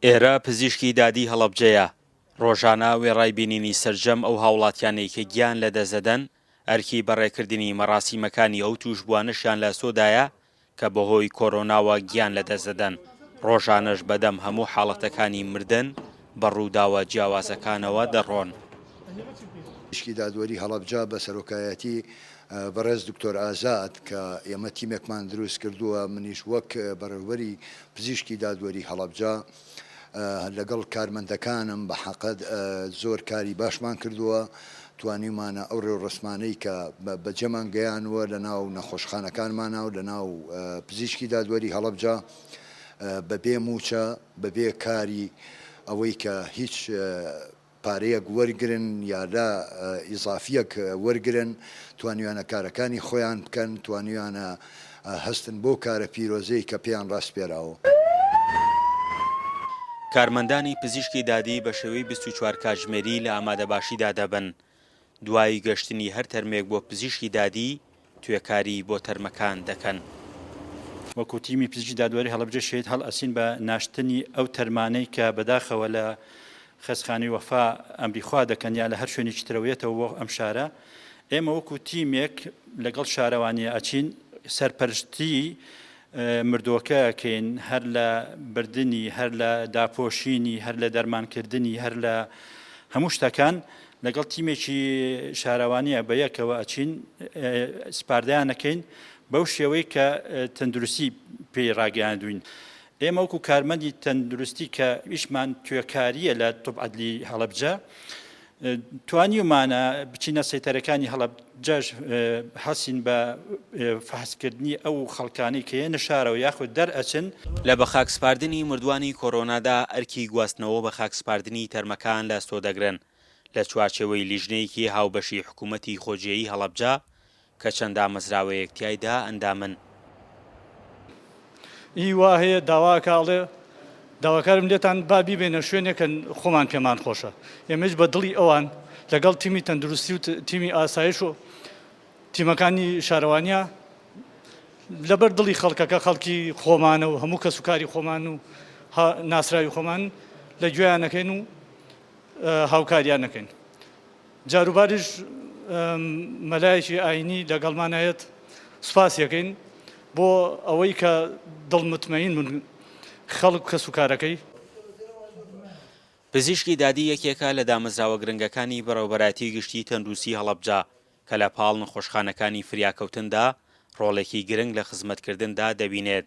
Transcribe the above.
ئێرە پزیشکی دادی هەڵەبجەیە، ڕۆژانە وێڕای بینینی سەرجەم ئەو هاوڵاتیانەی کە گیان لەدەست دەدەن، ئەرکی بەڕێکردنی مەڕاسیمەکانی ئەو تووشبووانەشیان لە ئەستۆدایە کە بەهۆی کۆرۆناوە گیان لەدەست دەدەن، ڕۆژانەش بەدەم هەموو حاڵەتەکانی مردن بە ڕووداوە جیاوازەکانەوە دەڕۆن. پزیشکی دادوەری هەڵەبجە بە سەرۆکایەتی بەڕێز دکتۆر ئازاد کە ئێمە تیمێکمان دروست کردووە منیش وەک بەڕێوبەری پزیشکی دادوەری هەڵەبجە لەگەڵ کارمەندەکانم بە حەقد زۆر کاری باشمان کردووە توانیومانە ئەو ڕێوڕەسمانەی کە بەجێمان گەیانووە لە ناو نەخۆشخانەکانمانە و لە ناو پزیشکی دادوەری هەڵەبجە بەبێ مووچە، بەبێ کاری ئەوەی کە هیچ پارەیەک وەرگرن یا لە ئیزافییەک وەرگرن، توانیویانە کارەکانی خۆیان بکەن، توانیویانە هەستن بۆ کارە پیرۆزەی کە پێیان ڕاسپێراوە. کارمەندانی پزیشکی دادی بە شێوەی بیست و چوار کاتژمێری لە ئامادەباشیدا دەبن، دوای گەشتنی هەر تەرمێک بۆ پزیشکی دادی، توێکاری بۆ تەرمەکان دەکەن. وەکو تیمی پزیشکی دادوەری هەڵەبجە شەهید هەڵ ئەسین بە ناشتنی ئەو تەرمانەی کە بەداخەوە لە خەستخانەی وەفا ئەمری خوا دەکەن یا لە هەر شوێنێکی ترەوە یەتەوە بۆ ئەم شارە ئێمە وەکو تیمێک لەگەڵ شارەوانیە ئەچین سەرپەرشتی مردووەکە ئەکەین هەر لە بردنی هەر لە داپۆشینی هەر لە دەرمانکردنی هەر لە هەموو شتەکان لەگەڵ تیمێکی شارەوانیە بە یەکەوە ئەچین سپاردەیانەکەین بەو شێوەی کە تەندروستی پێی ڕاگەیاندوین. ئێمە وەکو کارمەندی تەندروستی کە ئیشمان توێکاریە لە طب عدلی هەڵەبجە توانیومانە بچینە سەیتەرەکانی هەڵەب جاش حەسین بە فەحسکردنی ئەو خەڵکانی کە یەنە شارەوە یاخود دەرئەچن. لە بەخاکسپاردنی مردووانی کۆرۆنادا ئەرکی گواستنەوەو بەخاکسپاردنی تەرمەکان لە ئەستۆ دەگرن، لە چوارچێوەی لیژنەیەکی هاوبەشی حکوومەتی خۆجێیی هەڵەبجە، کە چەند دامەزراوەیەک تیایدا ئەندامن. ی وا هەیە داوا ئەکا ئەڵێ داواکارم لێتان با بیبەینە شوێنێک کە خۆمان پێمان خۆشە ئێمەیش بە دڵی ئەوان لەگەڵ تیمی تەندروستی و تیمی ئاسایش و تیمەکانی شارەوانیا لەبەر دڵی خەڵکەکە خەڵکی خۆمانە و هەموو کەسوکاری خۆمان و ناسراوی خۆمان لە گوێیان نەکەین و هاوکاریان نەکەین. جاروباریش مەلایەکی ئاینی لەگەڵمان هەیەت سوپاسی ئەکەین بۆ ئەوەی کە دڵ متمەین بون خەڵک کەس و کارەکەی. پزیشکی دادی یەکێکە لە دامەزراوە گرنگەکانی بەڕێوەبەرایەتی گشتی تەندروستی هەڵەبجە کە لە پاڵ نەخۆشخانەکانی فریاکەوتندا ڕۆڵێکی گرنگ لە خزمەتکردندا دەبینێت.